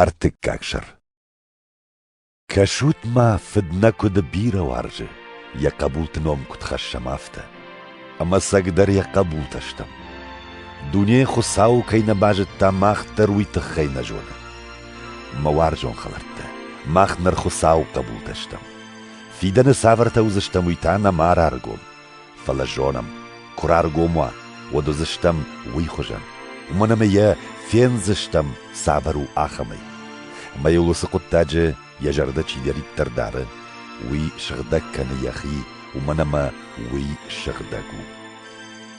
Ӕртыккаг сӕр Кӕсут ма, фыд нӕ куыды бирӕ уарзы, йӕ хъӕбулты ном куыд хӕссӕм, афтӕ. Ӕмӕ цӕгдӕр йӕ хъӕбултӕ стӕм. Дуне Хуыцауы кӕй нӕ базыдта, мах дӕр уый тыххӕй нӕ зонӕм. Мӕ уарзон хӕлӕрттӕ, мах ныр Хуыцауы хъӕбултӕ стӕм. Фидӕны цавӕртӕ уыдзыстӕм, уый та нӕма раргом. Фӕлӕ зонӕм, куы раргом уа, уӕд уыдзыстӕм уый хуызӕн, уымӕн ӕмӕ йӕ фендзыстӕм цавӕр у ахӕмӕй. Ӕмӕ йыл уыцы хъуыддаджы йӕ зӕрдӕ чидӕриддӕр дары, уый сыгъдӕг кӕны йӕхи, уымӕн ӕмӕ уый сыгъдӕг у.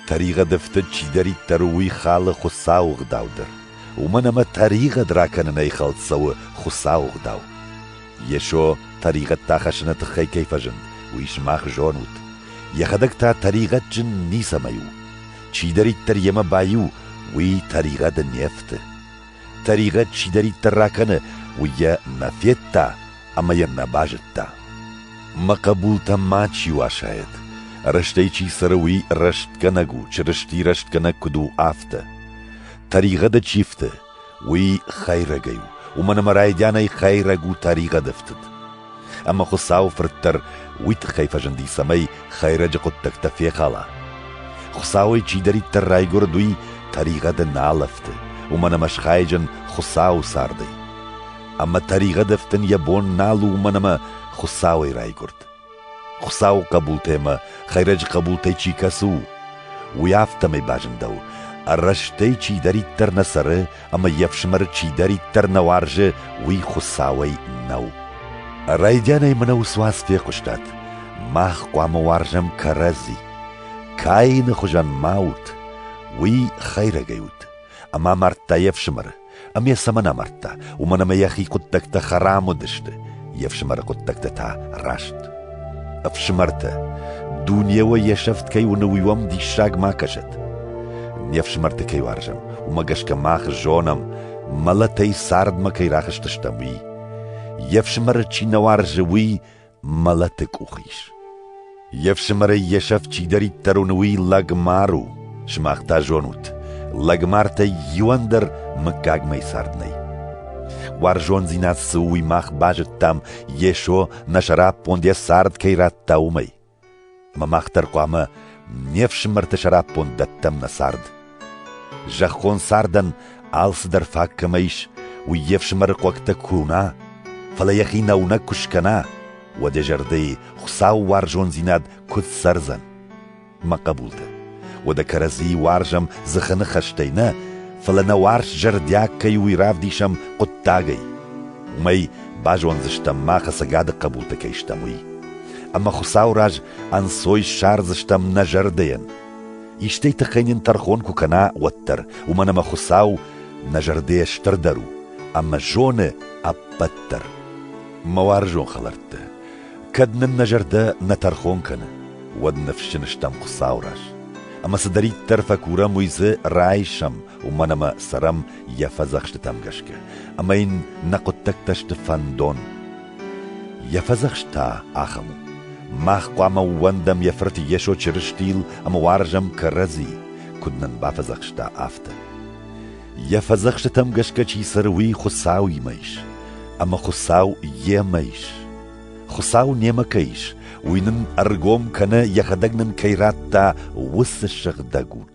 Тӕригъӕды фтыд чидӕриддӕр у, уый халы Хуыцауы ӕгъдау дӕр, уымӕн ӕмӕ тӕригъӕд ракӕнынӕй хӕлд цӕуы Хуыцауы ӕгъдау. Йесо тӕригъӕдтӕ хӕссыны тыххӕй кӕй фӕзынд, уый сымах зонут. Йӕхӕдӕг та тӕригъӕдджын ницӕмӕй у. Чидӕриддӕр йемӕ баиу, уый тӕригъӕды не фты. Тӕригъӕд чидӕриддӕр ракӕны, уый йӕ нӕ федта ӕмӕ йӕ нӕ базыдта. Мӕ хъӕбултӕ ма чи уасает, рӕстӕй чи цӕры, уый рӕстгӕнӕг у, Чырысти рӕстгӕнӕг куыд у, афтӕ. Тӕригъӕды чи фты, Уый хӕйрӕгӕй у, уымӕн ӕмӕ райдианӕй хӕйрӕг у тӕригъӕды фтыд. Ӕмӕ Хуыцауы Фырт дӕр уый тыххӕй фӕзынди, цӕмӕй хӕйрӕджы хъуыддӕгтӕ фехала. Хуыцауӕй чидӕриддӕр райгуырд, уый тӕригъӕды нал ӕфты, уымӕн ӕмӕ схайджын Хуыцауы цардӕй. Ӕмӕ тӕригъӕд ӕфтын йӕ бон нал у, уымӕн ӕмӕ Хуыцауӕй райгуырд. Хуыцауы хъӕбултӕмӕ хӕйрӕджы хъӕбултӕй чи кӕсы у, уый афтӕмӕй базындӕуы, ӕррӕстӕй чидӕриддӕр нӕ цӕры ӕмӕ йе фсымӕры чидӕриддӕр нӕ уарзы, уый Хуыцауӕй нӕу. Райдианӕй мӕнӕ уыцы уац фехъуыстат. Мах хъуамӕ уарзӕм кӕрӕдзи. Каины хуызӕн ма ут, уый хӕйрӕгӕй ут, ӕмӕ мардта йе фсымӕры. ӕмӕ йӕ цӕмӕн амардта, уымӕн ӕмӕ йӕхи хъуыддӕгтӕ хӕрам уыдысты, йе фсымӕры хъуыддӕгтӕ та раст. Ӕфсымӕртӕ, дунейыл йе сӕфт кӕй уыны, уый уӕм диссаг ма кӕсӕд. Не фсымӕрты кӕй уарзӕм, уымӕ гӕсгӕ мах зонӕм, мӕлӕтӕй цардмӕ кӕй рахызтыстӕм, уый. Йе фсымӕры чи нӕ уарзы, уый мӕлӕты къух ис. Йе фсымӕрӕй йе сӕфт чидӕриддӕр уыны, уый лӕгмар у. Сымах та зонут, лӕгмартӕй иуӕн дӕр мыггагмӕ цард нӕй. Уарзондзинад цы у, уый мах базыдтам, Йесо нӕ сӕраппонд йӕ цард кӕй радта, уымӕй. Мах дӕр хъуамӕ не фсымӕрты сӕраппонд дӕттӕм нӕ цард. Зӕххон цардӕн алцыдӕр фаг кӕмӕ ис, уый йе фсымӕры хъуӕгтӕ куы уына, фӕлӕ йӕхи нӕуынӕг куы скӕна, уӕд йӕ зӕрдӕйы Хуыцауы уарзондзинад куыд цӕрдзӕн? Мӕ хъӕбултӕ! Уӕдӕ кӕрӕдзийы уарзӕм дзыхы ныхӕстӕй нӕ, фӕлӕ нӕ уарз зӕрдиаг кӕй уый равдисӕм хъуыддагӕй. Уымӕй базондзыстӕм мах ӕцӕгады хъӕбулты кӕй стӕм, уый. Ӕмӕ Хуыцауы раз ӕнцой ссардзыстӕм нӕ зӕрдӕйӕн. Истӕй тыххӕй нын тӕрхон куы кӕна, уӕддӕр, уымӕн ӕмӕ Хуыцау нӕ зӕрдӕйӕ стырдӕр у ӕмӕ зоны ӕппӕт дӕр. Мӕ уарзон хӕлӕрттӕ, Кӕд нын нӕ зӕрдӕ нӕ тӕрхон кӕны, уӕд ныфсджын стӕм Хуыцауы раз. Ӕмӕ цыдӕриддӕр фӕкурӕм, уый дзы райсӕм, уымӕн ӕмӕ цӕрӕм йӕ фӕдзӕхстытӕм гӕсгӕ, ӕмӕ йын нӕ хъуыддӕгтӕ сты фӕндон. Йӕ фӕдзӕхст та ахӕм у: мах хъуамӕ ууӕндӕм йӕ Фырт Йесо Чырыстийыл ӕмӕ уарзӕм кӕрӕдзи, куыд нын бафӕдзӕхста, афтӕ. Йӕ фӕдзӕхстытӕм гӕсгӕ чи цӕры, уый Хуыцауимӕ ис, ӕмӕ Хуыцау йемӕ ис. Хуыцау немӕ кӕй ис, уый нын ӕргом кӕнӕ йӕхӕдӕг нын кӕй радта, уыцы сыгъдӕг уд.